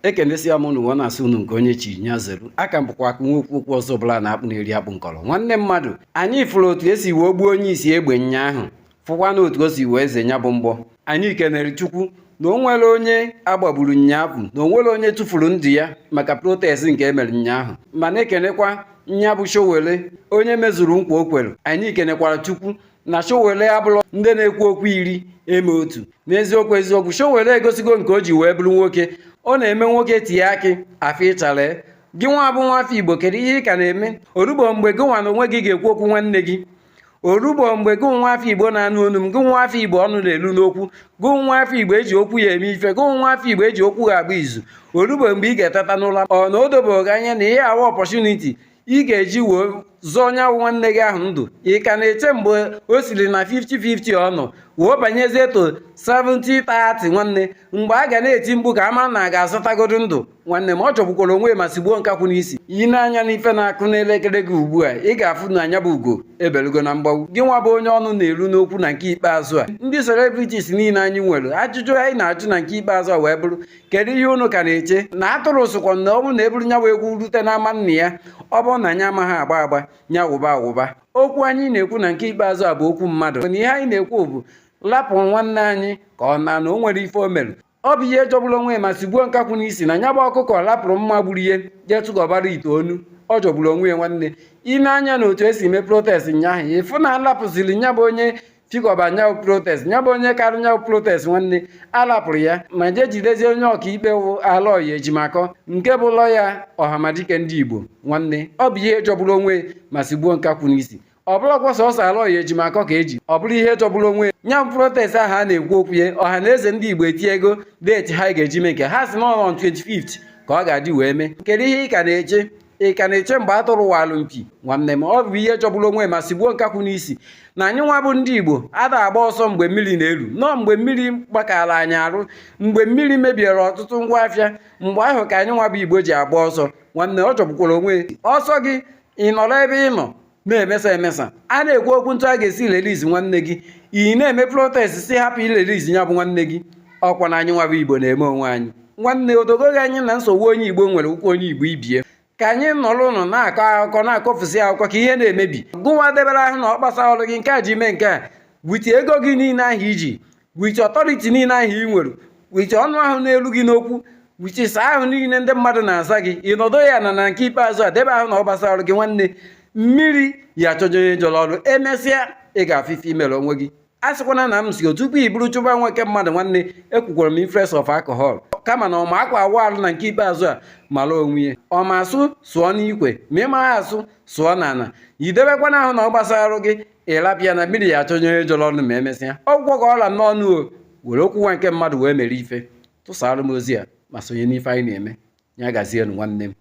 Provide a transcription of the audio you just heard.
ekenesia m unu na-asị unu nke onye chiri nya zere aka m bụkwa aka nwa okwu okwu ọzọ bụla na-akpụ na-eri akpụ nkọrọ nwanne mmadụ anyị fụrụ otu esi wee gbuo onye isi egbe nyaahụ fụkwa na otu o si wee ze nya bụ mgbọ anyị kenere chukwu na o nwerọ onye agbagburu nyaahụ na o nwerọ onye tụfuru ndụ ya maka protest nke emere nyaahụ ma na-ekenekwa nya bụ Sowore onye mezuru nkwa o kwere anyị kenekwara chukwu na Sowore abụrọ ndị na-ekwu okwu iri eme otu n'eziokwu eziokwu Sowore egosigo nke o ji wee bụrụ nwoke ọ na-eme nwoke tie akị afọ ịchara gị nwa bụ nwa afọ Igbo kedu ihe ị ka na-eme orugbo mgbe gị nwa na onwe gị ga-ekwu okwu nwanne gị orugbo mgbe gị nwa afọ Igbo na-anụ onu m gị nwa afọ Igbo ọnụ na-elu n'okwu gị nwa afọ Igbo eji okwu ya eme ife gị nwa afọ Igbo eji okwu ya agba izu orugbo mgbe ị ga-eteta n'ụla ọ na o dobeghị anya na ihe a wụ opportunity ị ga-eji wee zọọ onye ahụ nwanne gị ahụ ndụ ị ka na-eche mgbe o siri na 50-50 ọ nọ wee banyezie to 70-30 nwanne mgbe a ga na-eti mkpu ka a mara na a ga-azọtagodu ndụ nwanne m ọ jọgbukwara onwe ma sigbuo nkakwụ n'isi ị nee anya n'ife na-akụ n'elekere gị ugbu a ị ga-afụ na nya bụ ugo ebelugo na mgbagbu gị nwa bụ onye ọnụ na-elu n'okwu na nke ikpeazụ a ndị celebrities niile anyị nwere ajụjụ anyị na-ajụ na nke ikpeazụ a wee bụrụ kedu ihe unu ka na-eche na atụrụ sịkwa na ọ bụrụ na eburu nya wụ egwu rute n'ama nna ya ọ bụrụ na nya amaghị agba agba nya wụba awụba okwu anyị na-ekwu na nke ikpeazụ a bụ okwu mmadụ na ihe anyị na-ekwu bụ lapụ nwanne anyị ka ọ naa na o nwerọ ife o mere ọ bụ ihe jọgburu onwe ma sigbuo nkakwụ n'isi na nya bụ ọkụkọ lapụrụ mma gburu ya jee tụgọbara ite onu ọ jọgburu onwe ya nwanne ị nee anya na otu esi mee protest nyaahụ ị fụ na alapụziri nya bụ onye chịkọba nya wụ protest nya bụ onye karụ nya wụ protest nwanne alapụrụ ya ma jee jidezie onye ọkaikpe wụ aloy ejimakor nke bụ lawyer ọhamadike ndị igbo nwanne ọ bụ ihe jọgburu onwe ma sigbuo nkakwụ n'isi ọ bụrọkwa sọsọ aloy ejimakor ka eji ọ bụrụ ihe jọgburu onwe nya bụ protest ahụ a na-ekwu okwu ya ọhanaeze ndị igbo etinyego date ha ga-eji mee nke ha sị na on 25 ka ọ ga-adị wee mee kedu ihe ị ka na-eche ị ka na-eche mgbe atụrụ walụ mpi nwanne m ọ bụ ihe jọgburu onwe ma sigbuo nkakwụ n'isi na anyị nwa bụ ndị igbo ada agba ọsọ mgbe mmiri na-elu nọọ mgbe mmiri gbakara anyị arụ mgbe mmiri mebiere ọtụtụ ngwa afịa mgbe ahụ ka anyị nwa bụ igbo ji agba ọsọ nwanne ọ jọgbukwara onwe ọ sọ gị ị nọrọ ebe ị nọ na-emesa emesa a na-ekwu okwu etu a ga-esi release nwanne gị ị na-eme protest sị hapụ ị release ya bụ nwanne gị ọkwa na anyị nwa bụ igbo na-eme onwe anyị nwanne o dogo gị anya na nsogbu onye igbo nwere wụkwa onye igbo ibie ka anyị nọrọnụ na-akọ akụkọ na-akọfusi akụkọ ka ihe na-emebi gụwa debere ahụ na ọ gbasarọ gị nke a ji mee nke a with ego gị niile ahụ i ji with authority niile ahụ ị nwere with ọnụ ahụ na-elu gị n'okwu with sir ahụ niile ndị mmadụ na-aza gị ị nọdụ ya na na nke ikpeazụ a debe ahụ na ọ gbasarọ gị nwanne mmiri ya achọjọ onye jọrọ ọrụ emesịa ị ga-afụ ife i mere onwe gị a sịkwana na m si tupu i buru chụba nwoke mmadụ nwanne ekwukwarọ m influence of alcohol kama na ọma akwa awụ alụ na nke ikpeazụ a mara onwe ya ọma asụ sụọ n'ikwe ma ị maghị asụ sụọ n'ala edebekwana ahụ na ọ gbasarọ gị ị rapụ ya na mmiri ya achọnye onye jọrọ ọnụ ma emesịa ọ gwụgo ka ọ ra m n'ọnụ o were okwu nwa nke mmadụ wee mere ife tụsaara m ozi a ma sonye n'ife anyị na-eme ya gazienụ nwanne m